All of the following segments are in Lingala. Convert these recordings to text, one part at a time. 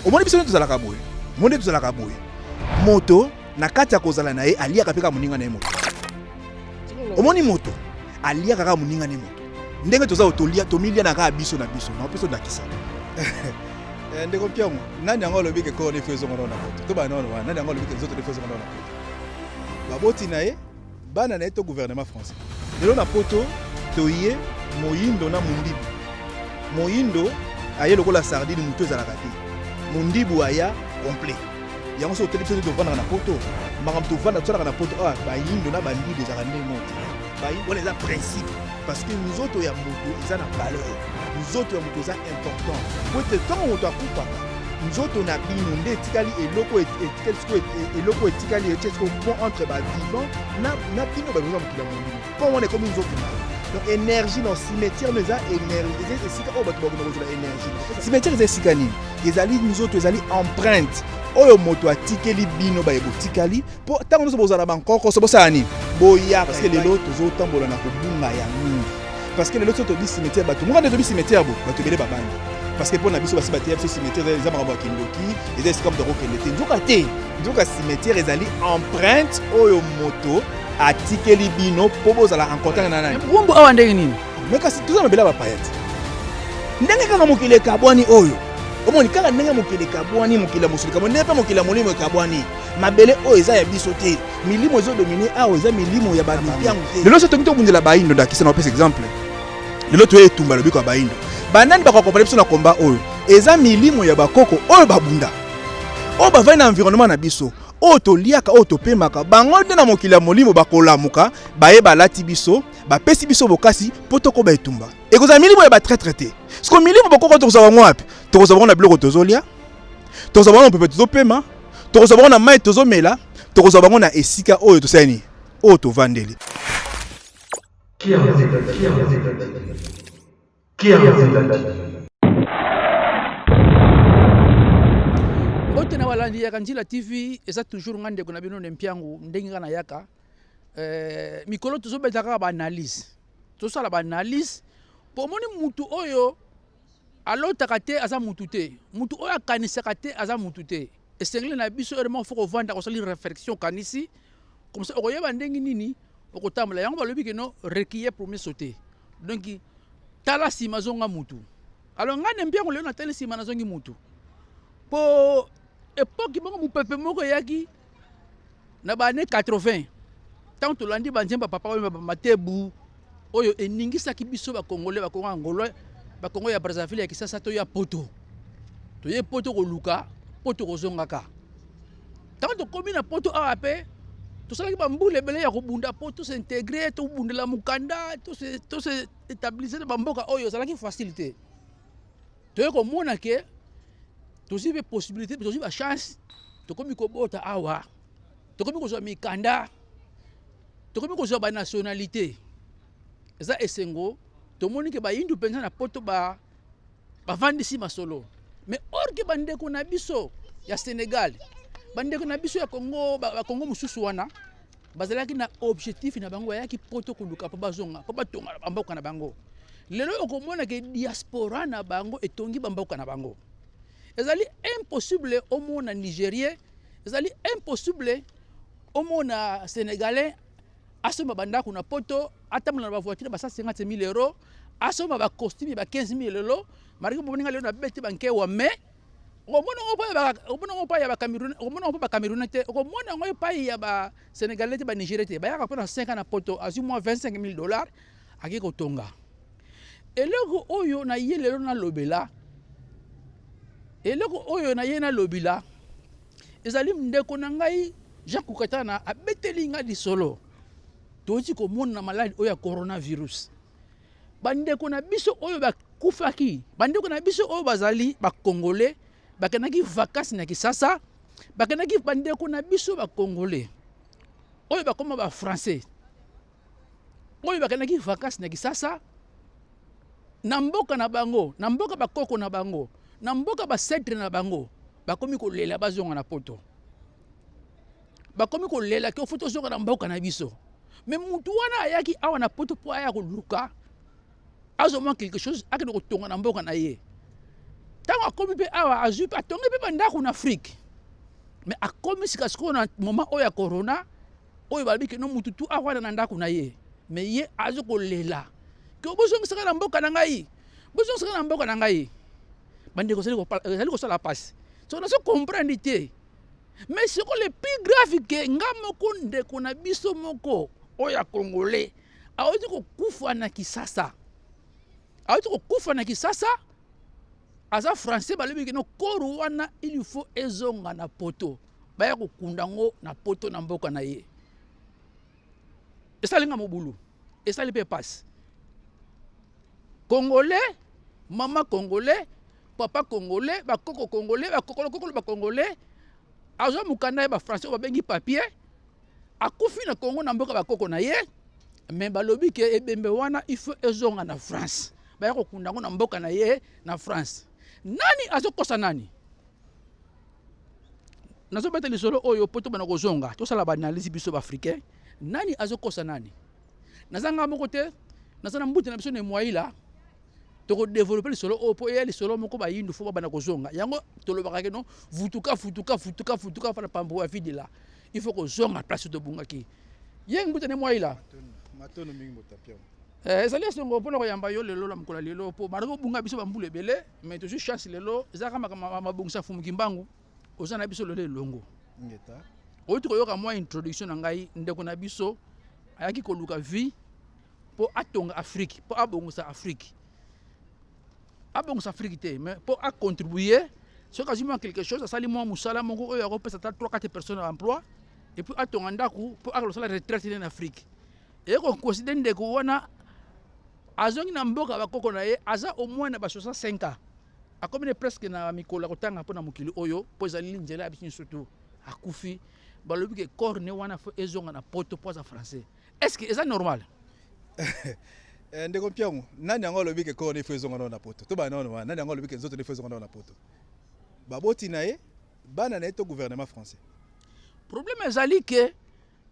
omoni biso nde tozalaka boye omoni nde tozalaka boye moto na kati ya kozala na ye aliaka mpe kaka moninga na ye moto omoni moto aliaka kaka moninga na ye moto ndenge toza oyo tolia tomilia na kaka biso na biso na mpe tondakisa eh, ndeko mpiango nani yango alobi ke koo nefo ezonga nao na moto to bana nao wana nani yango alobi ke nzoto nefo ezonga nao na moto baboti na ye bana na ye to gouvernement français lelo na poto toye moyindo na mondibu moyindo aye lokola sardine motu ezalaka te mondibu aya complet yango soki otali biso tovandaka na poto makambo tovanda tosalaka na poto awa ah, bayindo na bandibu ezalaka ndenge moko te wana eza principe parce que nzoto ya moto eza na valeur nzoto ya moto eza important po ete ntango moto akufaka nzoto na bino nde etikali eloko etikali sikoyo eloko etikali etie sikoyo pont entre bavivant na bino bato oza mokili ya molimo mpo wana ekomi nzoto na donc énergie na cimetière no eza énergie eza esika oyo bato bakoma kozela énergie cimetière eza esika nini ezali nzoto ezali empreinte oyo moto atikeli bino baye botikali mpo ntango nyonso bozala bankokoso bosala nini boya parce que lelo tozotambola na kobunga ya mingi parce que lelo so tobi cimetière bato moko nde tobi cimetière bo bato ebele babandi parce que mpo na biso basi bateya biso cimetière eza makambo ya kindoki eza esika moto akokende te nzoka te nzoka cimetière ezali empreinte oyo moto atikeli bino mpo bozala en contact na nani rumbu awa ndenge nini me kasi toza mabele ya bapaya te ndenge kaka mokili ekabwani oyo omoni kaka ndenge mokili ekabwani mokili ya mosuni kabwani ndenge mpe mokili ya molimo ekabwani mabele oyo eza ya biso te milimo ezodomine awa eza milimo ya bamipiangu te lelo so tokoki tobundela baindo ndakisa na opesa exemple lelo toye etumba lobiko ya baindo banani bakokompana biso na komba oyo eza milimo ya bakoko oyo babunda oyo bavandi na environnement na biso oyo toliaka oyo topemaka bango nde na mokili ya molimo bakolamuka baye balati biso bapesi biso bokasi mpo tokoba etumba ekozala milimo ya batraitre te siko milimo bakoko tokozwa bango wapi tokozwa bango na biloko tozolya tokozwa bango na mopepe tozopema tokozwa bango na mai tozomela tokozwa bango na esika oyo tosali nini oyo tovandeli mbote na balandi yaka njila tv eza toujours nga ndeko na bino ne mpiangu ndenge nga nayaka eh, mikolo tozobeta kaka baanalyse tosala baanalyse mpo omoni mutu oyo alotaka te aza mutu te mutu oyo akanisaka te aza mutu te esengeli na biso heure moko fo kovanda kosali réflexion okanisi komsa okoyeba ndenge nini okotambola yango balobi keno rekiye premier sauter donc tala nsima zonga mutu alors ngai na mbiango lelo natali nsima nazongi mutu mpo epoki moko mopepe moko eyaki Na ba annees 80 ntango tolandi banzembo ya papa wemba bamatebu oyo eningisaki biso bakongole bakongo angolais bakongo ya brazzaville ya kisasa to ya poto toye poto koluka mpo tokozongaka ntango tokomi na poto awa mpe tosalaki bambula ebele ya kobunda mpo tosintegre tobundela mokanda toseetablise na bamboka oyo ezalaki facile te toye komona ke tozwi mpe possibilité tozwi bachance tokomi kobota awa tokomi kozwa mikanda tokomi kozwa banationalité eza esengo tomoni ke bayindu mpenza na poto bavandisi ba masolo mais orke bandeko na biso ya sénégal bandeko na biso ya congo bakongo mosusu wana Bazalaki na objectif na bango, bayaki poto koluka mpo bazonga mpo batonga na bamboka na bango. Lelo okomona ke diaspora na bango etongi bamboka na bango. Ezali impossible omona Nigerien, ezali impossible omona Senegalais asomba bandako na poto, atambola na bavoiture basala 50 000 euros, asomba bacostume ba 15 000 euros. Marike boninga lelo na beti bankewa mais okomona yango epai ya ba- okomona yango epai ya bacameroun okomona yango mpe bacamerounais te okomona yango epai ya basénégalais te banigérie te bayaka mpo na 5 ans na poto azwi mwa 25 000 dollars akei kotonga eloko oyo na ye lelo nalobela eloko oyo na ye nalobila ezali ndeko na ngai jean kukatana abeteli ngai lisolo toyoti komona maladi oyo ya coronavirus bandeko na biso oyo bakufaki, bandeko na biso oyo bazali bakongole bakendaki vakasi na Kisasa, bakendaki bandeko na biso bakongole oyo bakoma bafrançais oyo bakendaki vakasi na Kisasa na mboka na bango, na mboka bakoko na bango, na mboka basetre na bango bakomi kolela bazonga na poto. bakomi kolela ke fo tozonga na mboka na biso me mutu wana ayaki awa na poto mpo aya koluka azomwa quelque chose akende kotonga na mboka na ye ntango akomi mpe awa azwi mpe atongi mpe bandako na afrike me akomi sikasikoyo na moma oyo ya corona oyo balobi keno mutu tu awana na ndako na ye me ye azo kolela ke bozongisaka na mboka na ngai bozongisaka na mboka na ngai bandeko ezali kosala mpasi so nazo comprendre te mais siko le plus grave ke nga moko ndeko na biso moko oyo ya congolais awuti kokufa na kisasa awuti kokufa na kisasa aza français balobi kino koro wana il faut ezonga na poto baya kokunda yango na poto na mboka na ye esali nga mobulu esali mpe mpasi congolais mama congolais papa congolais bakoko congolais bakokolokokolo bacongolais azwa mokanda ya bafrançais oyo babengi papier akufi na congo na mboka bakoko na ye me balobi ke ebembe wana ifo ezonga na france baya kokunda yango na mboka na ye na france nani azokosa nani nazobeta lisolo oyo mpo tobana kozonga tosala baanalyse biso baafricain nani azokosa nani naza ngai moko te naza na mbuta na biso na emoyila tokodevelope lisolo oyo mpo eya lisolo moko bayindu fo babanda kozonga yango tolobaka keno vutuka futuka futuka futuka fana pambo ya vide la il faut kozonga place tobungaki ye mbuta ne mwai la matono mingi motapia eh, ezali esongo mpo na koyamba yo lelo na mokolo ya lelo mpo banda kobunga biso bambula ebele mais tozwi chance lelo ezalaka makambo mabongisa fumu kimbangu oza na biso lelo elongo outi koyoka mwa introduction na ngai ndeko na biso ayaki koluka vie mpo atonga Afrique, mpo abongusa Afrique. Abongusa Afrique te, mais mpo acontribuer soki azwi mwa quelque chose asali mwa mosala moko oyo akopesa ata 3 4 personnes ya emploi epuis atonga ndako mpo akosala retraite nde na afrique eye koconsidere ndeko wana azongi na mboka bakoko na ye aza au moins na ba 65 ans akomi ne presque na mikolo ya kotanga mpo na mokili oyo mpo ezali nzela ya biso nyonso tu akufi balobi ke corps ne wana fo ezonga na poto mpo aza français Est-ce que eza normal? Eh, ndeko Mpiangu, nani yango alobi ke koo nefu ezonga nao na poto? To bana wana, nani yango alobi ke nzoto nefu ezonga nao na poto? Baboti na ye, bana na ye to gouvernement français? Problème ezali ke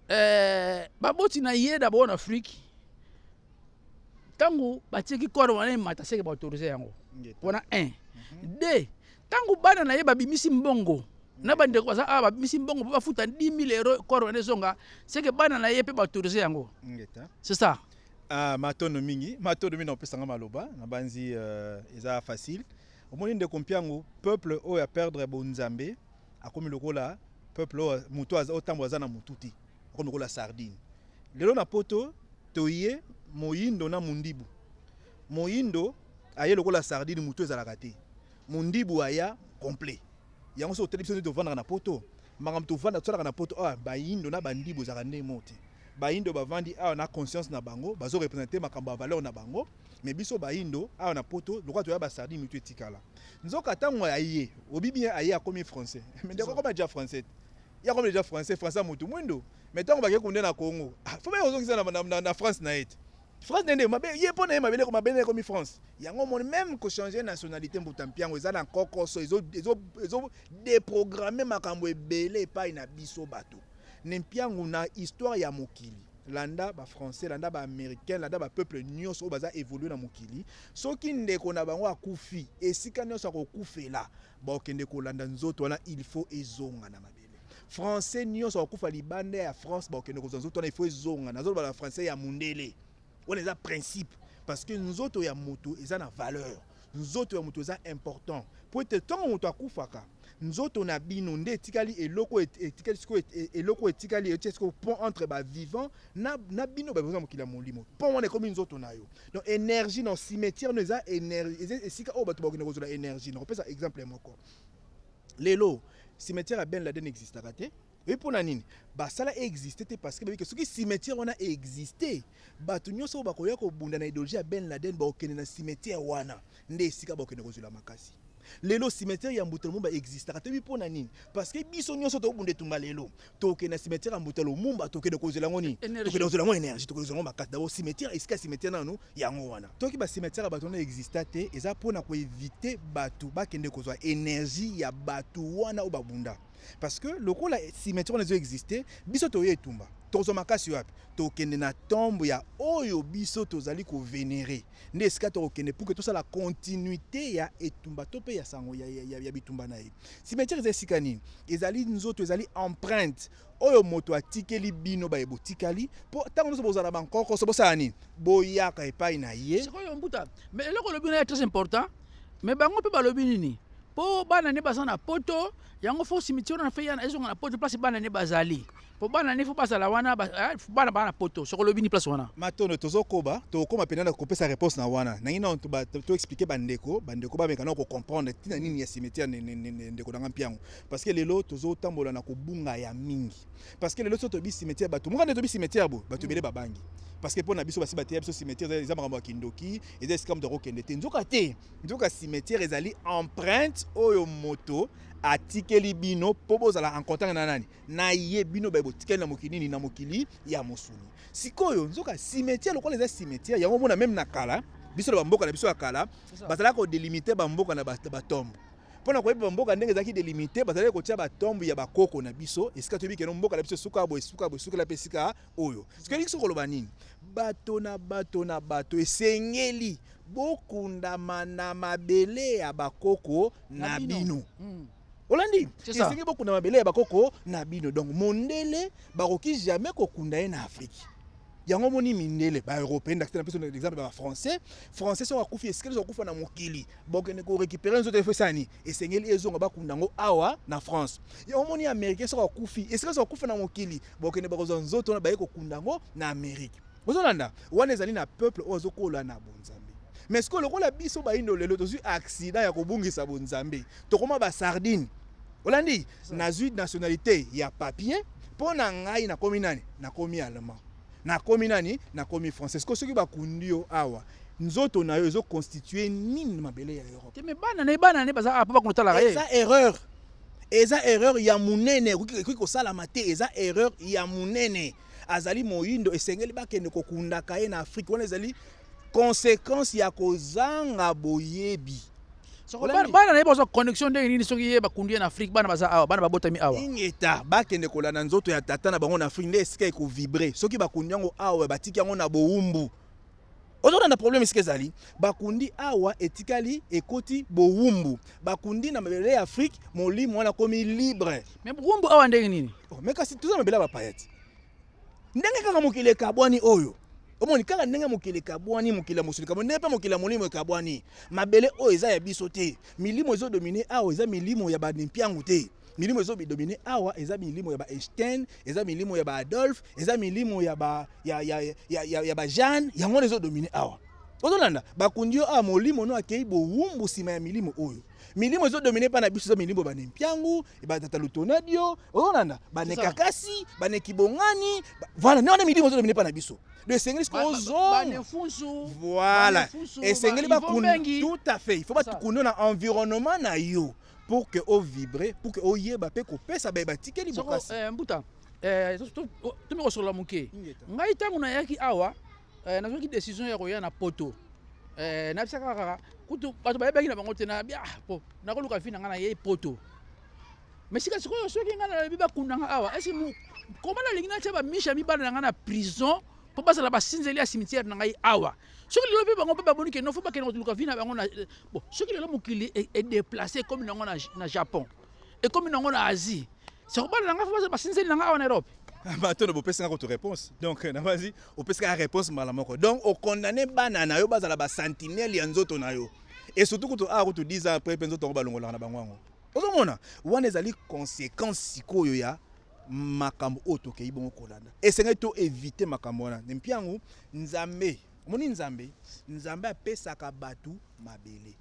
eh, baboti na ye d'abord na Afrique ntango batieki corps wana emata seke baautorize yango wana 1 2 Tango bana na ye babimisi mbongo na bandeko baza awa babimisi mbongo mpo bafuta 10000 euro corps wana ezonga seke bana na ye mpe baautorise yango c'est ça ah, matondo mingi matondo mingi na kopesanga maloba nabanzi uh, eza facile omoni ndeko mpiangu peuple oyo aperdre bonzambe akomi lokola peuple oyo moto otambo aza na motu te akomi lokola sardine lelo na poto toye moyindo na mondibu Moyindo aye lokola sardine mutu ezalaka te. Mundibu aya complet. Yango so otali biso nde tovandaka na poto. Makambo tovanda tosalaka na poto awa bayindo na bandibu ezalaka nde moko te. Bayindo bavandi awa na conscience na bango bazo representer makambo ya valeur na bango. Mais biso bayindo awa na poto lokola toya ba sardine mutu etikala. Nzoka tango aye obi bien aye akomi français. Mais ndeko akoma deja français. Ye akomi deja français français ya mutu mwindo. Mais tango bakei kunde na Congo. Faut baye kozongisa na, na, na, na France na ye te. France nde nde mabe ye mpo na ye mabele ko mabele ekomi France yango omoni meme ko changer nationalité mbuta mpiango eza na nkokoso ezodeprogramme makambo ebele epai na biso bato ne mpiango na histoire ya mokili landa bafrançais landa baaméricain landa bapeuple nyonso oyo baza évolue na mokili soki ndeko na bango akufi esika nyonso akokufela bakokende kolanda nzoto wana il faut ezonga na mabele français nyonso akokufa libanda ya france bakokende kozwa nzoto wana ifo ezonga nazoloba na français ya mundele wana eza principe parce que nzoto ya moto eza na valeur nzoto ya moto eza important mpo ete ntango moto akufaka nzoto na bino nde etikali eloko etikali sikoyo e, eloko etikali etie sikoyo pont entre bavivant na, na bino baboza na mokili ya molimo pont wana ekomi nzoto na yo donc énergie na cimetière no eza esika oyo bato bakokende kozwa na énergie nakopesa exemple moko lelo cimetière ya ben laden existaka te oyebi mpo na nini basala existe te parce que bayebi ke soki cimetière wana existe bato nyonso oyo bakoya kobunda na idéologie ya ben laden bakokende na cimetière wana nde esika bakokende kozwela makasi lelo cimetière ya mbuta lumumba existaka toyebi mpo na nini parce que biso nyonso tokobunda etumba lelo toke na cimetière ya mbuta lumumba tokende kozela yango nini tokende kozela yango énergie tokende kozela yango makasi dabo cimetière esika cimetière nanu yango wana toki ba cimetière ya bato wana exista te eza mpo na koevite bato bakende kozwa énergie ya bato wana oyo babunda parce que lokola cimetière wana ezo existe biso toye etumba tokozwa makasi wapi tokende na tombe ya oyo biso tozali kovenere nde esika tokokende puke tosala continuité ya etumba to mpe ya sango ya, ya, ya, ya bitumba na ye Cimetière eza esika nini? Ezali nzoto, ezali empreinte oyo moto atikeli bino baye botikali, mpo ntango nyonso bozala bankokoso bosala nini? Boyaka epai na ye. Sikoyo mbuta, mais eloko olobi na ya très important, mais bango mpe balobi nini? Mpo bana ne baza na poto, yango fo cimetière wana mpe ezonga na poto place bana ne bazali. po bana ne faut bazala wana eh, bana bana poto soko lobi ni place wana matondo tozokoba tokokoma mpenza na kopesa réponse na wana nangi nano toexplike bandeko bandeko bameka na kocomprendre ntina nini ya cimetière ndeko na ngai mpiango parce que lelo tozotambola na kobunga ya mingi parce que lelo so toyebi cimetière bato mokande toyebi cimetière bo bato ebele babangi parce que pona biso basi bateya biso cimetière eza makambo ya kindoki eza esika moto akokende te nzoka te nzoka cimetière ezali empreinte oyo moto atikeli bino mpo bozala en contact na nani na ye bino baye botikali na mokili nini na mokili ya mosuni sikoyo nzoka cimetière lokola eza cimetière yango omona meme na kala biso na bamboka na biso ya kala bazalaka kodelimite bamboka na batombe mpo na koyeba bamboka ndenge ezalaki delimite bazalaki kotya batombe ya bakoko na biso esika toyebi keno mboka na biso esuka boye esuka boye esukela mpe esika oyo sikoyo elingi soki koloba nini bato na bato na bato esengeli bokundama na mabele ya bakoko na bino, na bino. Mm. olandi esengi bokunda mabele ya bakoko na bino donc mondele bakoki jamais kokunda ye na afrike yango omoni mindele baeuropéen dakite na biso exemple ba français français soki akufi esikeli soki akufa na mokili bokende korécupere nzoto efo esani esengeli ezonga bakunda yango awa na france yango omoni américain soki akufi esikeli soki akufa na mokili bokende bakozwa nzoto wana baye kokunda yango na amérique Bozolanda? Wana ezali na peuple oyo azokola na bonzambe. Mais sikoyo lokola biso bayindo lelo tozwi accident ya kobungisa bonzambe, tokoma ba sardine. Olandi? Nazwi nationalité ya papier, mpo na ngai nakomi nani? Nakomi allemand. Nakomi nani? Nakomi français. Sikoyo soki bakundi yo awa, nzoto na yo ezo constituer nini na mabele ya Europe? Te me bana na ye bana na ye baza awa mpo bakunda talaka ye. Eza erreur. Eza erreur ya munene, ekoki kosalama te, eza erreur ya munene. azali moyindo esengeli bakende kokundaka ye na Afrique wana ezali conséquence ya kozanga boyebi bana na ye bazwa connexion ndenge nini soki ye bakundi ye na afrique bana baza awa bana babotami awa ingeta bakende kolanda nzoto ya tata na bango na afrique nde esika ekovibre soki bakundi yango awa batiki yango na bowumbu ozolanda problème esika ezali bakundi awa etikali ekoti bowumbu bakundi na mabele ya afrique molimo wana akomi libre me bowumbu awa ndenge nini oh, me kasi toza mabele ya bapaya ti ndenge kaka mokili ekabwani oyo omoni kaka ndenge mokili ekabwani mokili ya mosuni kabwani ndenge mpe mokili ya molimo ekabwani mabele oyo eza ya biso te milimo ezodomine awa eza milimo ya banimpiangu te Milimo ezo bidomine awa eza milimo ya ba Einstein, eza milimo ya ba Adolphe, eza milimo ya ba ya ya ya, ya, ya ba Jeanne, yango wana ezo domine awa. Ozolanda bakundi yo awa molimo no akei bowumbu nsima ya milimo oyo milimo ezo domine epai na biso eza milimo bane mpiangu batata lutonadio ozolanda bane kakasi bane kibongani voilà nde wana milimo ezo domine epai na biso do esengeli sikoyo ozonga voilà esengeli bakunda tout à fait il faut bakunda na environnement na yo pour que o vibre pour que oyeba pe kopesa baye batikeli bokasi eh, mbuta eh, tomi kosolola moke ngai ntango nayaki awa eh, nazwaki décision ya koya na poto eh, nayebisa kaka kaka kutu bato bayebaki na bango te nayabi ah, po nakoluka vi na ngai nayei poto mais sika sikoyo soki ngai nalobi bakunda ngai awa esi koma nalingi natya bamisha mibala na ngai na prison mpo bazala basinzeli ya cimetière na ngai awa soki lelo mpe bango mpe bamoni ke nofo bakende kotuluka vi na bango na eh, bon soki lelo mokili e, edeplace ekomi nango na japon ekomi nango na asie sakobala na ngai fo basinzeli na ngai awa na europe bato na bopesi nga kutu réponse donc na basi opesi kaka réponse mbala moko donc okondane bana na yo bazala basentinele ya nzoto na yo et surtout kutu awa ah, kutu 10 ans après mpe nzoto yango balongolaka na bango yango ozomona wana ezali conséquence sikoyo ya makambo oyo tokei bongo kolanda esengeli to evite makambo wana ne mpe yango nzambe omoni nzambe nzambe apesaka bato mabele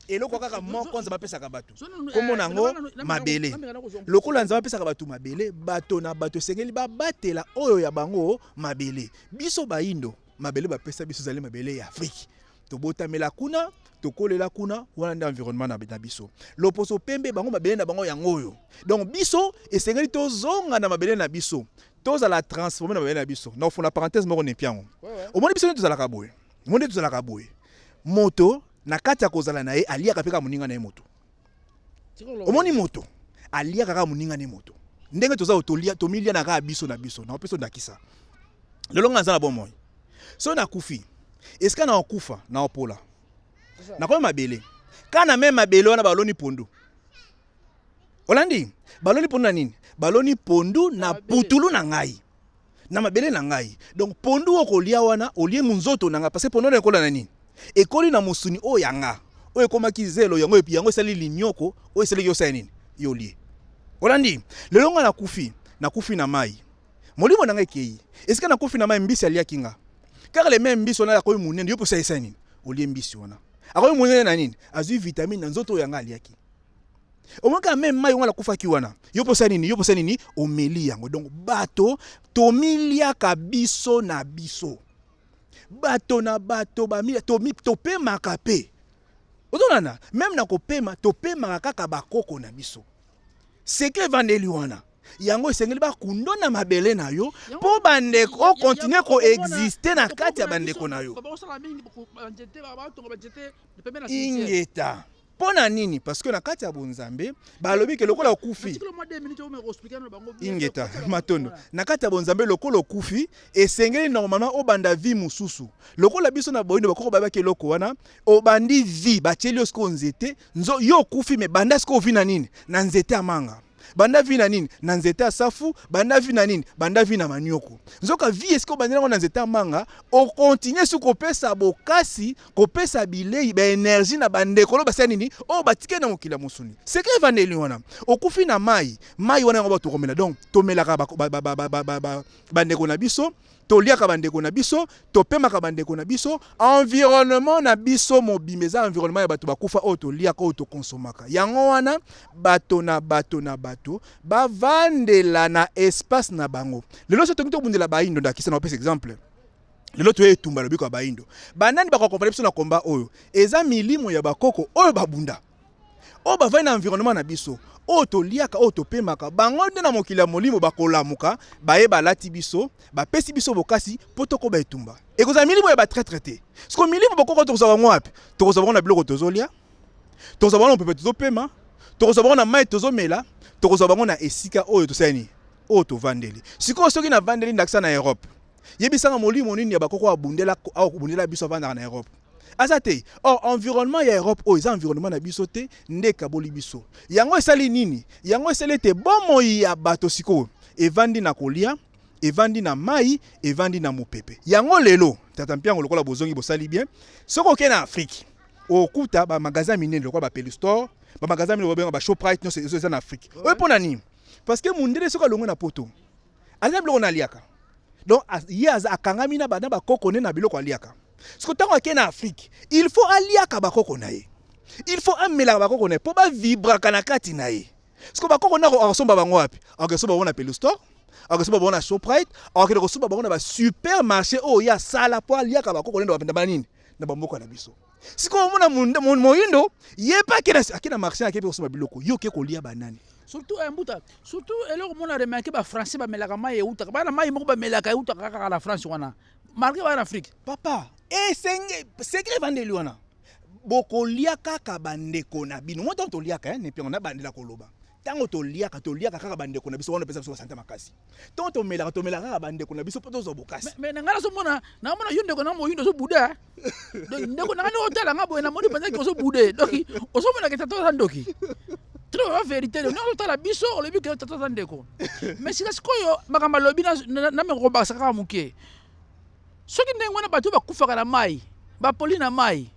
eloko kaka moko nzambe apesaka bato nkombo na yango mabele lokola nzambe apesaka bato mabele bato na bato esengeli babatela oyo ya bango mabele biso baindo mabele bapesa biso ezali mabele ya afrike tobotamela kuna tokolela kuna wana nde environnement na, na biso loposo pembe bango mabele na bango yango oyo donc biso esengeli tozonga na mabele na biso tozala transforme na mabele na biso na ofona parenthèse moko nepi yango omoni biso nde tozalaka boye omoni nde tozalaka boye moto na kati ya kozala na ye aliaka mpe kaka moninga na ye moto omoni moto aliaka kaka moninga ne moto ndenge toza otolia tomilia na kaka biso na biso na opesa ondakisa lelo nga naza na bomoi soki nakufi esika na okufa na opola nakomi mabele kaka na meme mabele wana baloni pondu olandi baloni pondu na nini baloni pondu na putulu na ngai na mabele na ngai. Donc pondu oyo okolia wana olie munzoto na ngai parce que pondu wana ekola na nini? Ekoli na mosuni oyo ya nga oyo ekomaki zelo yango epi yango esali linyoko oyo esalaki osala nini? Yo olie. Olandi? Lelo nga nakufi, nakufi na mai. Molimo na ngai ekei. Esika nakufi na mai mbisi aliaki nga. Kaka le meme mbisi wana akomi munene, yo mpe osalisa nini? Olie mbisi wana. Akomi munene na nini? Azwi vitamine na nzoto oyo ya nga aliaki. omonaka meme mai yango nakufaki wana yo mposa nini yo mposa nini omeli yango donc bato tomiliaka biso na biso bato na bato topemaka mpe ozonana meme na kopema topemaka kaka bakoko na biso seke evandeli wana yango esengeli bakundo na mabele na yo mpo bandeko okontinue koexiste na kati ya bandeko na yo ingeta Mpo na nini? Parce que na kati ya bonzambe balobi ke lokola okufi ingeta matondo na kati ya bonzambe lokola okufi esengeli normalement obanda vie mosusu lokola biso na boyindo bakoko bayebaki eloko wana obandi vie batyeli yo sikoyo nzete nzo yo okufi me banda sikoyo ovi na nini na nzete ya manga banda vi na nini na nzete ya safu banda vi na nini banda vi na manioko nzoka vi esika obandi nango na nzete ya manga okontinue su kopesa bokasi kopesa bilei baenergie na bandeko lo basala nini oyo oh, batike na mokili ya mosuni seke evandeli wana okufi na mai mai wana yango bato okomela donc tomelaka bandeko na biso toliaka bandeko na biso, topemaka bandeko na biso, environnement na biso mobimba eza environnement ya bato bakufa oyo toliaka oyo tokonsomaka. Yango wana bato na bato na bato bavandela na espace na bango. Lelo so toki tobundela baindo, ndakisa na opesa exemple lelo toye etumba lobiko ya baindo, banani bakokompana biso na komba oyo? Eza milimo ya bakoko oyo babunda oyo bavandi na environnement na biso oyo toliaka oyo topemaka bango nde na mokili ya molimo bakolamuka baye balati biso bapesi biso bokasi mpo tokoba etumba ekozala milimo ya batretre te siko milimo bokoko tokozwa bango wapi tokozwa bango na biloko tozolia tokozwa bango na mopepe tozopema tokozwa bango na mai tozomela tokozwa bango na esika oyo tosali nini oyo tovandeli sikoyo soki navandeli ndakisa na europe yebisanga molimo nini ya bakoko abundela abundela biso avandaka na europe aza te or environnement ya europe oyo eza environnement na biso te nde ekaboli biso yango esali nini yango esali ete bomoi ya bato sikoyo evandi na kolia evandi na mai evandi na mopepe yango lelo tata mpiango lokola bozongi bosali bien soki okei na afrike okuta bamagasin minene lokola bapelistore bamagasin minene obenga bashoprite nyonso ezo eza na afrike oyo mpo na nini parce que mondele soki alongwe na poto aza na biloko na aliaka donc ye akangami na bakoko ne na biloko aliaka siko ntango ake na afrike il faut aliaka bakoko na ye il faut amelaka bakoko na ye mpo bavibraka na kati na ye siko bakoko na akosomba bango wapi akosomba bango na pelustore akosomba bango na shoprite akokende kosomba bango na basupermarché oyo ye asala mpo aliaka bakoko ne na banini na bamboka na biso sikoyo omona moyindo ye pe ake na marché akepe kosomba biloko yo oke kolia banani surtout eh, mbuta surtout eloko mona remarke bafrançais bamelaka mai eutaka bana mai moko bamelaka eutaka kaka na france wana marke bana afrique papa esenge eh, sekre evandeli wana bokolia kaka bandeko na bino mwa ntango toliaka eh, nepiango nabandela koloba Tango to liaka, to liaka kaka ba ndeko na biso wana pesa biso ba sante makasi. Tango to melaka, to melaka kaka ba ndeko na biso poto zo bokasi. Mais na ngala zo mona, na mona yo ndeko na mo yindo zo bouda. Donc ndeko na ngana o tala ngabo na moni penza ki zo boude. Donc o zo mona ke tato za ndoki. Trop ba verite le nord tala biso o lobi ke tato za ndeko. Mais sika sikoyo makamba lobi na na me ko bakasa kaka muke. soki ndenge wana bato bakufaka na mai bapoli na mai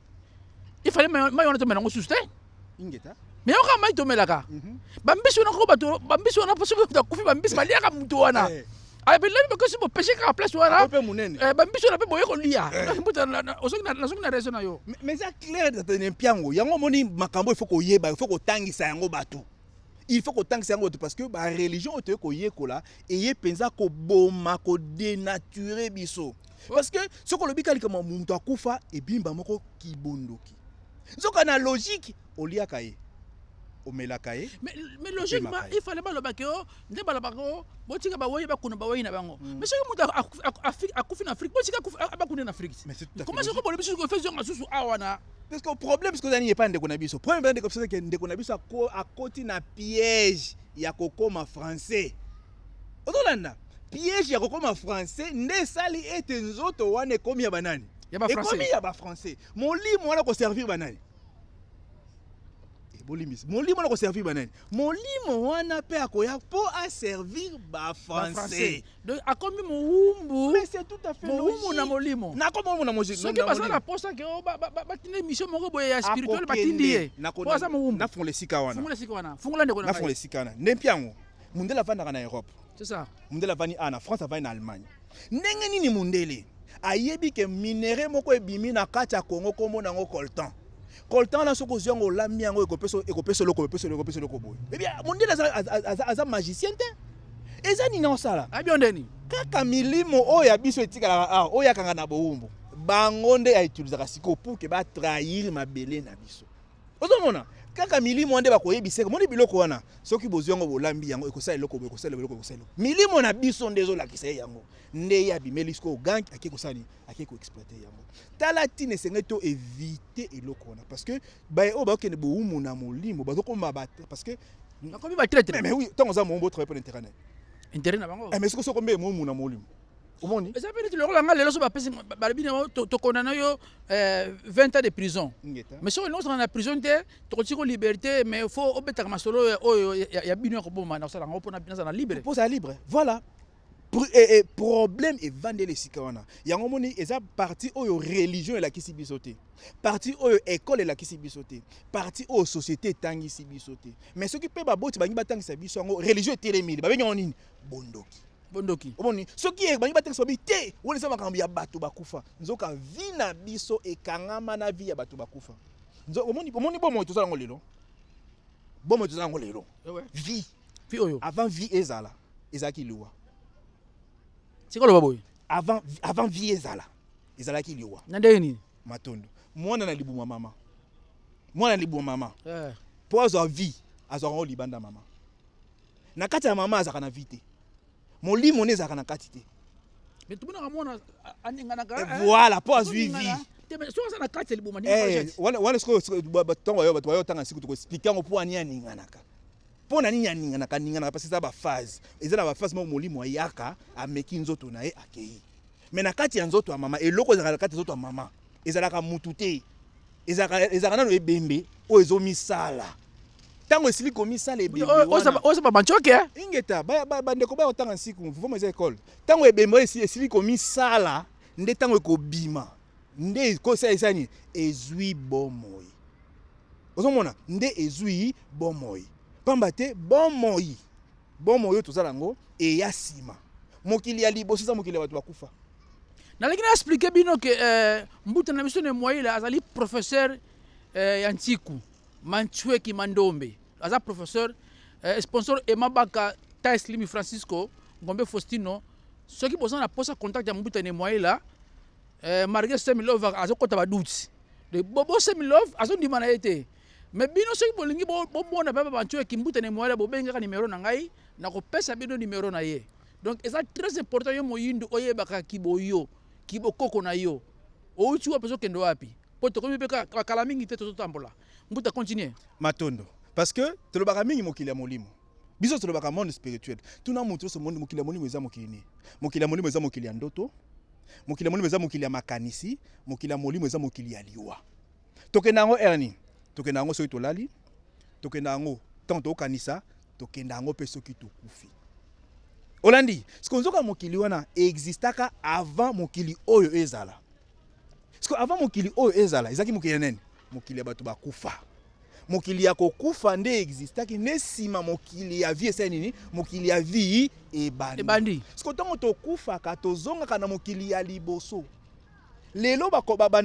ifale mai wana tomela yango susu te me yoka mai tomelaka mhm. bambisi wana koko bato bambisi wana mpo soki akufi bambisi baliaka moto wana eh. abelani bakosi bopeshe kaka place wana eh, bambisi wana mpe boye kolia ozongi eh. na raison na yo mais eza clair mpiango yango omoni makambo ifo koyeba ifo kotangisa yango bato il faut kotangisa yango bato parce que bareligion oyo toye koyekola eye mpenza koboma kodenature biso oh. parce que soki olobi ka likambo moto akufa ebimba moko kibondoki nzoka na logique oliaka ye omelaka ye mais logiquement il fallait balobaki o nde balobaka o botika baweyi bakuna baweyi na bango mm. mais soki moto akufi na afrique botika bakuna na afrique comment soki bolobi susu efezonga susu awa na Parce que problème sikoyo ezali epai ndeko na biso. Problème ezali ndeko biso que ndeko na biso akoti na piège ya kokoma français. Ozolanda piège ya kokoma français nde esali ete nzoto wana ekomi ya banani? Ekomi ya ba français. Molimo wana koservir banani? Eh, bolimbisi molimo wana koservir banani? Molimo wana mpe akoya mpo aservir ba français. Donc akomi mowumbu. Mais c'est tout à fait logique. Mowumbu na molimo. Na ko mowumbu na moziki. Soki baza na posa ke o oh, ba ba ba tinde mission moko boye ya spirituel ba tindi ye. Na ko baza mowumbu. Na fongola sika wana. Fongola sika wana. Fongola ndeko na. Na fongola sika wana. Ndempi yango. Mundele avandaka na Europe. C'est ça. Mundele avandi ana France avandi na Allemagne. Ndenge nini mundele ayebi ke minerais moko ebimi na kati ya Congo kombo nango coltan. Coltan wana soki ozwi yango olambi yango ekopesa ekopesa eloko ekopesa eloko ekopesa eloko boye. Eh bien mondele aza aza aza magicien te. Eza nini osala? Abi yo ndeni. Kaka milimo oyo ya biso etikalaka awa oyo yakanga na bowumbu. Bango nde ya utilisaka sikoyo pour que ba trahir mabele na biso. Ozomona? Kaka milimo nde bakoyebisaka. Moni biloko wana soki bozwi yango bolambi yango ekosala eloko boye ekosala eloko ekosala eloko. Milimo na biso nde ezolakisa ye yango. Nde ye abimeli sikoyo gangi ake kosala nini? ake ko exploiter yango tala ntina esengeli to éviter eloko wana parce que baye oyo bakokende bowumu na molimo bazokoma parce que nakomi batraitre mais oui ntango oza moombo otravaille mpo na intérêt na intérêt na bango eh, mais soki soki ombe momu na molimo omoni eza mpe neti lokola ngai lelo so bapesi balobi na yango tokondana yo 20 eh, ans de prison mais soki olingi osana na prison te tokoki ko liberté mais fo obetaka masolo oyo ya bino ya koboma na kosala yango mpo nazala libre mpo ozala libre voilà Eh, eh, problème evandeli esika wana yango moni eza parti oyo religion elakisi biso te parti oyo ekole elakisi biso te parti oyo société etangisi biso te mais soki mpe baboti bangi batangisa biso yango religion etelemeli babengi yango nini bondoki bondoki omoni soki eh, bangi batangisa babi te wana eza makambo ya bato bakufa nzoka vi na biso ekangama na vi ya bato bakufa omoni bomoi toza yango lelo bomoi toza yango lelo eh vi Fille oyo. Avant vie ezala, ezalaki liwa. Siko loba boye. Avant avant vie ezala, ezalaki liwa. Na ndenge nini? Matondo. Mwana na libuma mama. Mwana na libuma mama. Eh. Po azwa vie, azwa ngo libanda mama. Na kati ya mama azaka na vie te. Molimo ne ezaka na kati te. Mais tout le monde a mwana aninganaka. Eh, eh. Voilà, po azwi vie. Eh, wana sikoyo batongo bayo bato bayo otanga siku toko explike yango mpo ani aninganaka Mpo na nini aninganaka? Aninganaka parce eza ba phase, eza na ba phase moko molimo ayaka ameki nzoto na ye akeyi, me na kati ya nzoto ya mama eloko ezalaka na kati ya nzoto ya mama ezalaka mutu te, ezalaka nano ebembe oyo ezomisala ntango esili komisala ebembe wana oza ba bancoke eh? ingeta bandeko baya kotanga nsiku voma eza ekole ntango ebembe oyo esili komisala nde ntango ekobima nde kosala esani ezwi bomoi Ozomona? Nde ezui bomoi. Pamba te bomoi, bomoi oyo toza na yango eya sima. Mokili ya liboso eza mokili ya bato bakufa. Nalingi na expliquer bino ke eh, mbuta na biso ne Mwaila azali professeur eh, ya Ntiku Manchweki Mandombe aza professeur eh, sponsor Emabaka Tais Limi Francisco Ngombe Faustino soki boza na posa contact ya mbuta ne Mwaila eh, Marge Semi Lova azokota baduti de bobo semilove azondima na ye te me bino soki bolingi bomona papa bantu ya kimbuta na moyala bobengaka nimero na ngai nakopesa bino nimero na ye donc eza très important yo moyindu oyebaka kiboyo kibokoko na yo outi wapi ozokende wapi mpo tokomi mpe bakala mingi te tozotambola mbuta continue matondo parce que tolobaka mingi mokili ya molimo biso tolobaka monde spirituel tuna moto nyonso monde mokili ya molimo eza mokili nini mokili ya molimo eza mokili ya ndoto Mokili ya molimo eza mokili ya makanisi, mokili ya molimo eza mokili ya liwa. Tokenda yango erni, tokenda yango soki tolali, tokenda yango ntango tokanisa, tokenda yango mpe soki tokufi. Olandi siko nzoka mokili wana existaka avant mokili oyo ezala. Siko avant mokili oyo ezala ezalaki mokili ya nani? Mokili ya bato bakufa. mokili ya kokufa nde existaki nde nsima mokili ya vie esali nini mokili ya vie ebandi siko ntango tokufaka tozongaka na mokili ya liboso lelo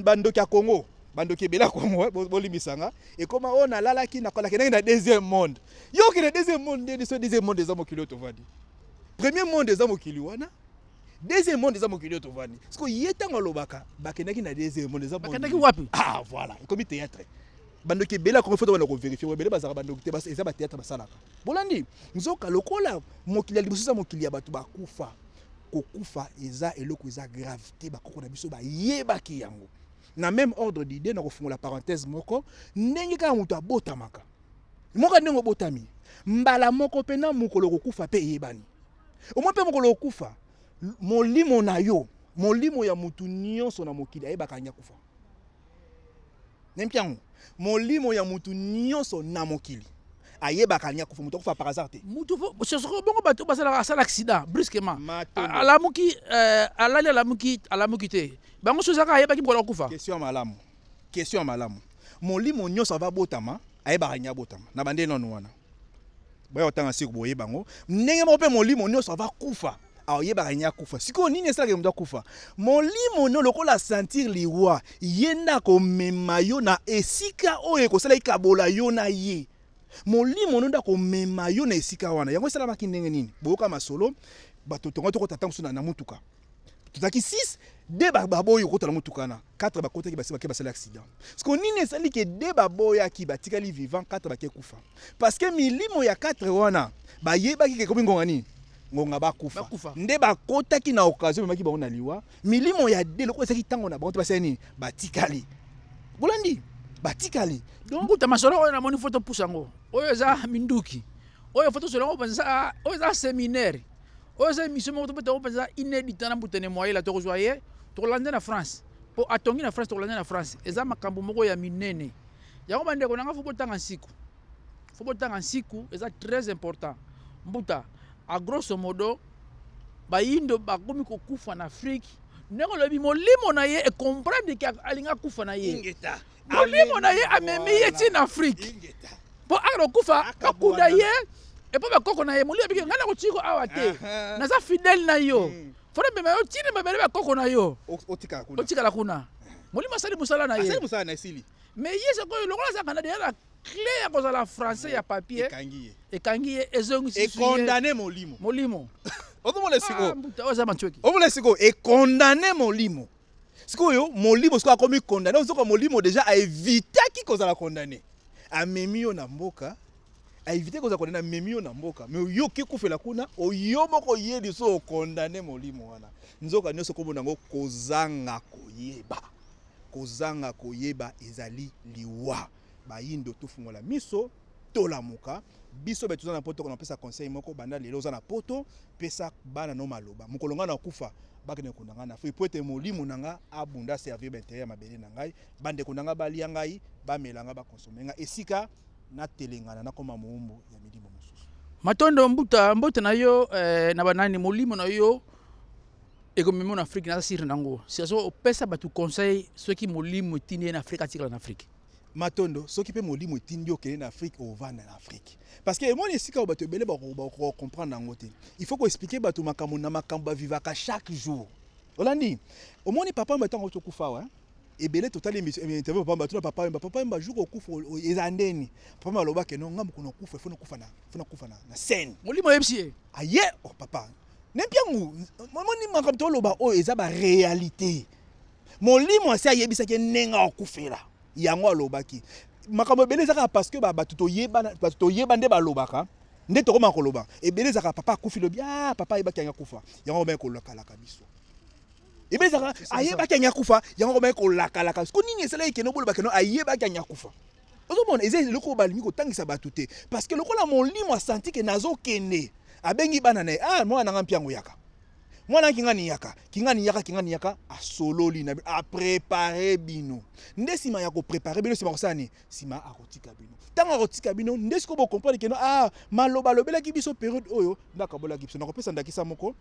bandoki ya congo bandoki ebele ya congo eh, bolimbisa nga ekoma oyo oh, nalalaki nakolakendaki na deuxième monde yo okende deuxième monde nde liso deuxième monde eza mokili oyo tovandi premier monde eza mokili wana deuxième monde eza mokili oyo tovandi siko ye ntango alobaka bakendaki na deuxième monde eza bakendaki wapi ah voilà ekomi théâtre bandoki ebele akomi foto bana koverifie ebele bazalaka bandoki te eza bateatre basalaka bolandi nzoka lokola mokili ya liboso eza mokili ya bato bakufa kokufa eza eloko eza grave te bakoko na biso bayebaki yango na même ordre d'idée na kofungola parenthèse moko ndenge kaka moto abotamaka moka ndenge obotami mbala moko mpe na mokolo kokufa mpe eyebani Omoni mpe mokolo okufa, molimo na yo, molimo ya motu nyonso na mokili ayebaka yango akufa. Nayebi yango, molimo ya motu nyonso na mokili ayebaka alingi akufa moto akufa par hasard te moto soko bongo bato basalaka asala accident brusquement alamuki euh, alali alamuki alamuki te bango soki ezaka ayebaki mokolo akufa question ya malamu question ya malamu molimo nyonso ava botama ayebaka nya botama na bande nanu wana baya kotanga siku boyeba yango ndenge moko mpe molimo nyonso ava kufa ayebaka nya kufa sikoyo nini esalaka moto akufa molimo no lokola sentir liwa ye nde akomema yo na esika oyo ekosala ikabola yo na ye molimo no nde akomema yo na esika wana yango esalamaki ndenge nini boyoka masolo bato tonga tokota ntango mosusu na motuka tozalaki 6 de baboyi okota na motuka wana 4 bakotaki basi bake basali accident siko nini esali ke de baboyaki batikali vivant 4 bake kufa parce que milimo ya 4 wana bayebaki ke ekomi ngonga nini ngonga bakufa nde bakotaki na occasion memaki bango na liwa milimo ya de lokola ezalaki ntango na bango te basali nini batikali bolandi batikali donc mbuta masolo oyo namoni foto pusa yango oyo eza minduki oyo foto solo yango mpenza oyo eza seminaire oyo eza emission moko tobeta yango mpenza ine dita na mbutene moyela tokozwa ye tokolanda na france mpo atongi na france tokolanda na france eza makambo moko ya minene yango bandeko na ngai fo botanga nsiku fo botanga nsiku eza très important mbuta a grosso modo bayindo bakomi kokufa na afrike ndenge olobi molimo na ye ekomprendre ke alingi akufa na ye molimo na ye amemi ye ti na afrike mpo akokufa bakunda ye epo bakoko na ye molimo abiki ngai nakotii ko awa te naza fidele na yo hmm. fona mema yo tina mabele bakoko na yo otikala kuna molimo asali mosala na ye me ye sikoyo lokola azalaka na deya na clé ya kozala français ya papier ekangi ye ezongisecondane molimo molimo ozomona sikoyo ah, ozomona sikoyo ekondane molimo Sikoyo molimo sikoyo akomi condamné ozoka molimo déjà a evitaki kozala condamné. Amemi yo na mboka a éviter kozala condamné amemi yo na mboka mais yo oke kufela kuna oyo moko ye liso condamné molimo wana. Nzoka nyoso kombo nango kozanga koyeba. Kozanga koyeba ezali liwa. Bayindo tofungola miso. tolamuka biso batu toza na poto kona pesa conseil moko banda lelo oza na poto pesa bana no maloba mokolo ngai nakufa bakende kunda ngai na fui po ete molimo na ngai abunda servir baintere ya mabele na ngai bandeko na ngai balia ngai bamela ngai bakonsome ngai esika natelengana nakoma moumbu ya milimo mosusu matondo mbuta mbote na yo eh, na banani molimo na yo ekomema na afrike naza sire na yango siaso opesa bato conseil soki molimo etindi ye na afrike atikala na afrike Matondo, soki pe molimo etindi yo kende na Afrique, ovanda na Afrique. Parce que emoni esika oyo bato ebele bako comprendre yango te. Il faut ko expliquer bato makambo na makambo ba vivaka chaque jour. Olandi, omoni papa mba tango tokufa wa. Ebele totali eh, interview papa mba tuna papa mba papa mba jour okufa eza ndeni. Papa mba loba ke non ngambo kuna kufa, faut kufa na, faut kufa na, na scène. Molimo yebisi ye. Aye, oh papa. Nempiangu, omoni makambo toloba oyo eza ba réalité. Molimo asi ayebisaki ye ndenge akufela, yango alobaki makambo ebele eza kaka parceke bato toyebana bato toyeba nde balobaka nde tokoma koloba ebele ezaka papa akufi lobi ah papa ayebaki yango akufa yango komaki kolakalaka biso ebele ezaka ayebaki yango akufa yango komaki kolakalaka biso ko nini esalaki kende oboloba keno ayebaki yango akufa ozomona eza eloko balingi kotangisa bato te parceke lokola molimo asanti ke nazokende abengi bana na ye ah mwana nanga mpe yango yaka mwana kingani yaka kingani yaka kingani yaka asololi na bino aprepare bino nde nsima ya koprepare bino nsima kosala nini nsima akotika bino ntango akotika bino nde sikoyo bokomprendre keno ah, maloba alobelaki biso periode oyo nde akabolaki biso nakopesa ndakisa moko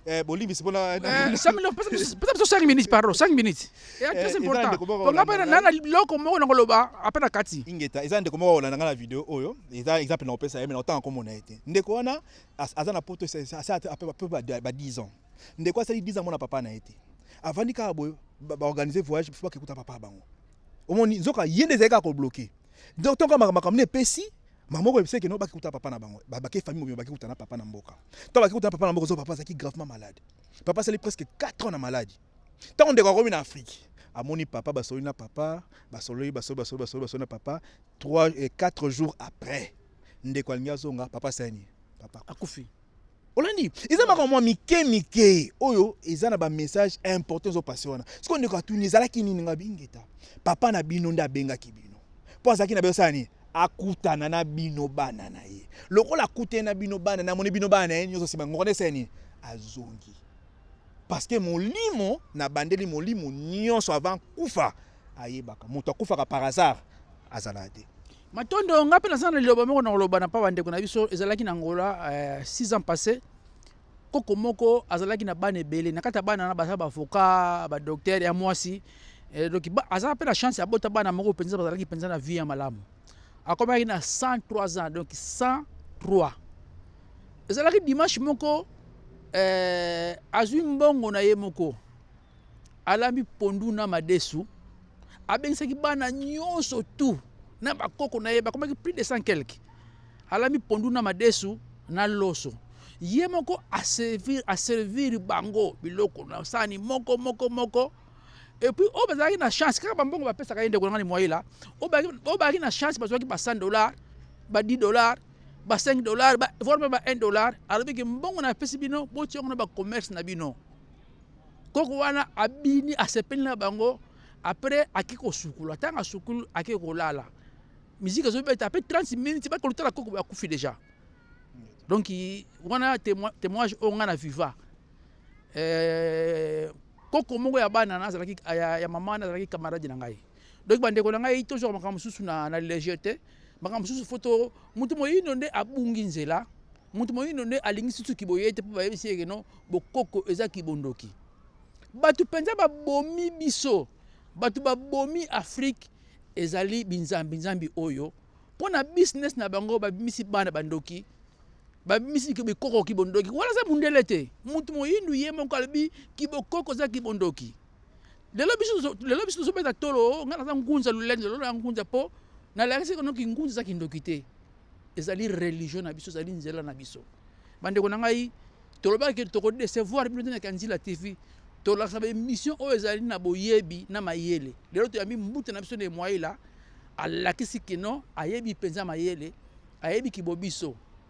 Eh, bolimbisi mpona eh, pesa biso 5 minutes pardon 5 minutes eh, très important mpo nga mpe na biloko moko na koloba ape na kati ingeta eza ndeko moko kolanda nga na video oyo eza exemple na kopesa ye me na kotanga komona ye te ndeko wana Aza na poto ba 10 ans. Ndeko asali 10 ans mona papa na ete. Avandi kaka boye ba organiser voyage pour bakekuta papa bango. Omoni nzoka yende ezali kaka ko bloquer. Donc tonka makambo ne pesi mama oyo ebiseke no bakikuta papa na bango babake famille mobimba bakikuta na papa na mboka ntango bakikuta na papa na mboka ozo papa azalaki gravement malade papa asali presque 4 ans na maladi ntango ndeko akomi na afrike amoni papa basololi na papa basololi basololi basololi basololi na papa 3 et 4 jours après ndeko alingi azonga papa sani papa akufi olandi eza makambo mwa mike mike oyo eza na bamessage important ezopase wana sikoyo ndeko atuni ezalaki nini nga bingeta papa na bino nde abengaki bino mpo azalaki na bino sala nini akutana na bino bana na ye lokola akutani na bino bana namoni bino bana na ye nyonso nsima ngoko nde esala nini azongi parceke molimo na bandeli molimo nyonso avant kufa ayebaka moto akufaka par hasard azalaka te Matondo nga pe naza na liloba moko na koloba na pa bandeko na biso ezalaki na Angola euh, six ans passé koko moko azalaki na bana ebele na kati ya bana na baza baavocat badoktere ya mwasi eh, donc aza pe na chance ya bota bana moko mpenza bazalaki mpenza na vie ya malamu akomaki na 103 ans donc 103 ezalaki dimanche moko euh, azwi mbongo na ye moko alambi pondu na madesu abengisaki bana nyonso tu na bakoko na ye bakomaki plus de 100 quelque alambi pondu na madesu na loso ye moko aservir aservir bango biloko na sani moko moko moko epuis oyo bazalaki na chance kaka bambongo bapesaka ye ndeko nanga limwaila oyo bazalaki na chance bazwaki ba 100 dollar ba 10 dollar ba 5 dollar voire mpe ba 1 dollar alobiki mbongo napesi bino botia yango na bacommerce na bino koko wana abini asepeli na bango après ake kosukula ntango asukulu ake kolala miziki ezobeta mpe 30 minutes bakolutala koko bakufi déjà donc wana témoignage oyo ngai na viva eh, koko moko ya bana nazalaki ya, ya mama nazalaki camarade na ngai Donc bandeko na ngai tozwaka makambo mosusu na, na leger te makambo mosusu fo to moto moyindo nde abungi nzela moto moyindo nde alingi susu kiboye te mpo bayebisi yeke no bokoko eza kibondoki bato mpenza babomi biso bato babomi afrike ezali binzambi nzambi oyo mpo na business na bango babimisi bana bandoki babimisi bikoko kibondoki wana aza mundele te moto moyindu ye moko alobi kibokoko eza kibondoki lelo biso lelo biso tozobeta tolo oh, ngai naza ngunza lolendo lelo na ngunza mpo nalakisi kono kingunza eza kindoki te ezali religio na biso ezali nzela na biso bandeko na ngai tolobaki tokodecevoir bino te na kanzila tv tolakisa baemission oyo ezali na boyebi na mayele lelo toyambi mbuta na biso na emwaila alakisi kino ayebi mpenza mayele ayebi kibobiso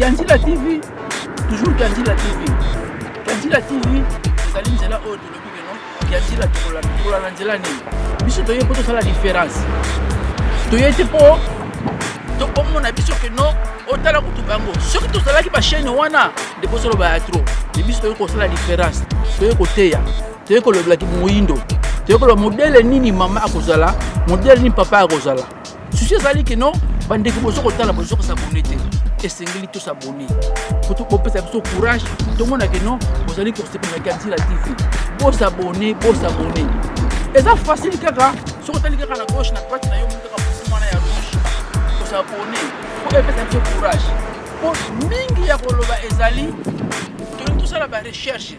Kianzila TV, toujours Kianzila TV. Kianzila TV, ezali nzela oyo tolobi keno Kianzila tokola na nzela nini? Biso toye mpo tosala différence. Toye te mpo tokomona biso keno otala kutu bango soki tozalaki bachaine wana nde bozoloba ya tro e biso toyei kosala diference toyei koteya toyei kolobelaki moyindo toyei koloba modele nini mama akozala modele nini papa akozala susi ezali kino bandeko bozo kotala bozo kosabone te esengeli tosabone kutu kopesa biso courage tomona kino bozali kosepela kantila tv bosabone bosabone eza facile kaka soki otali kaka na gauche na droite na yo moni kaka mosu wana ya rouge kosabone po epesa biso courage po mingi ya koloba ezali tolingi tosala barecherche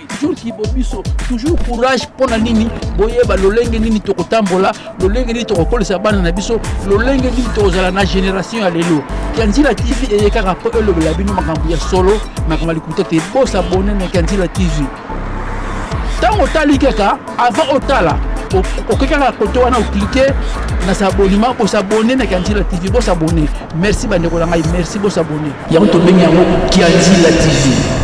jour kibo biso toujours courage mpo na nini boyeba lolenge nini tokotambola lolenge nini tokokolisa bana na biso lolenge nini tokozala na génération ya lelo kanzila tv eye kaka mpo elobela bino makambo ya solo makambo ya likuta te bosabone na kanzila tv ntango otali kaka avant otala okoki kaka kote wana oklike na sabonima kosabone na kanzila tv bosabone merci bandeko na ngai merci bosabone yango tobengi yango kanzila tv